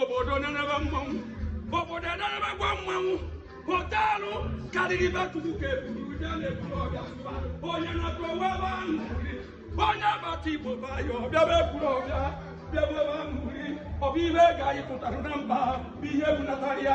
obodo na-enebe mmanwụ obodo na-enebekwa mmanwụ họteelụ karịrị be chukwu ka eburu ụja na-eburu ọga onye na-atụ onwe ebe ahụ onye agbata igbo ba ya ọbịa bụ eburu ọbịa bịa bụ ebe ahụ ọ bụ ihe ga-ayịpụtara na mba bụ ihe bunatara ya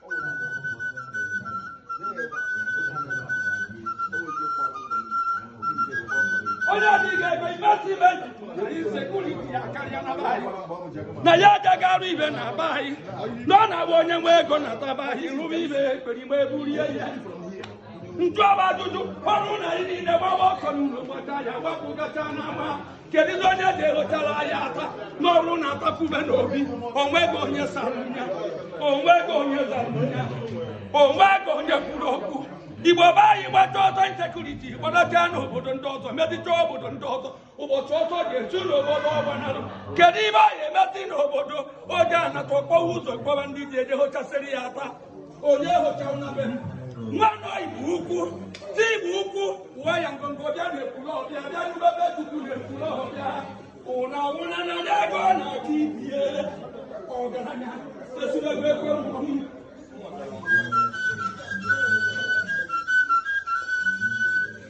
onye adịghị ego imesi insecurity akarịa na be anyị na ya agaghị arụ ihe na be anyị na ọ na-abụ onye nwe ego nata be anyị rụba ihe ekperima eburie ya m jụba ajụjụ ọ bụrụ na anyị niile gbawa ọsọ n'ụlọ gbata ya gbapụgacha n'ama keduzi onye ga-ehochara anyị ata na ọ bụrụ na ata pube na obi onweghị onye zarụ m ya onweghị onye zarụ m ya onweghị onye kwuru okwu igbo be anyị gbacha ọsọ insecurity gbadacha n'obodo ndị ọzọ mezicha obodo ndị ọzọ ụbọchị ọsọ ga-esu n'obodo ọ gbanalụ kedu ihe anyị emezi n'obodo ọ ga-anata kpọwa ụzọ kpọwa ndị je ehochasịrị ya ata onye họcha ụna be nwanne igbo ukwu chi igbo ukwu ụwa ya ngọngọ bịa na-ekwuru ọbịa bịa n'ebe chukwu na-ekwuru ọbịa ụna ụna na n'ebe ọ na-aga ibie ọgaranya esiri ebe ekwe mmọnwụ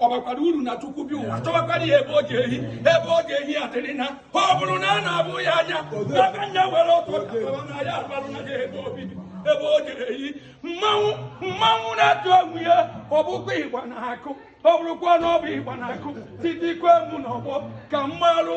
ọ bakwara uru na chukwu bi ụwa chọwakwara ya ebe ọ ga-ehi ebe ọ ga-ehi ya dịrị na ọ bụrụ na a na-abụ ya anya ebe nne were ọtọ na ya abalụ na ebe ọ ga-ehi mmanwụ na-atụ egwu ya ọ bụkwa ịgba na akụ ọ bụrụkwa na ọ bụ ịgba na akụ titikwa emu n'ọgbọ ka m malụ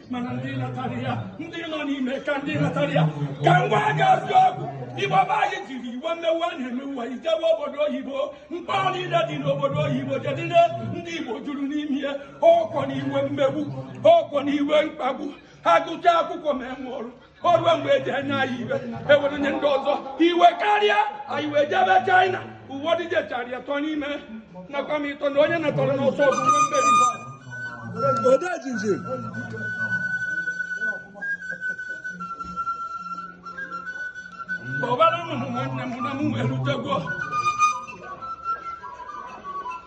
mana ndị natara ya ndị nọ n'ime ka ndị natara ya ka m gwagazi okwu igbo be anyị jiri iwe mmegbu a na-emegbu ha jewe obodo oyibo mkpọrọ niile dị n'obodo oyibo jedide ndị igbo juru n'ime ya ọkọ na iwe mmegbu ọkọ na iwe mkpagbu ha gụchaa akwụkwọ ma enwe ọrụ o ruo mgbe eji ha nye anyị ihe e were nye ndị ọzọ iwe karịa anyị wee jebe China ụfọdụ jechara ya tọ n'ime nakwa m ịtọ na onye natọrọ n'ọsọ ọgụ nwe mmeri odejimjim ọbara m hụ nwanne m na m wee rutego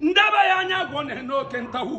ndaba ya anya bụ na n'oke ntawu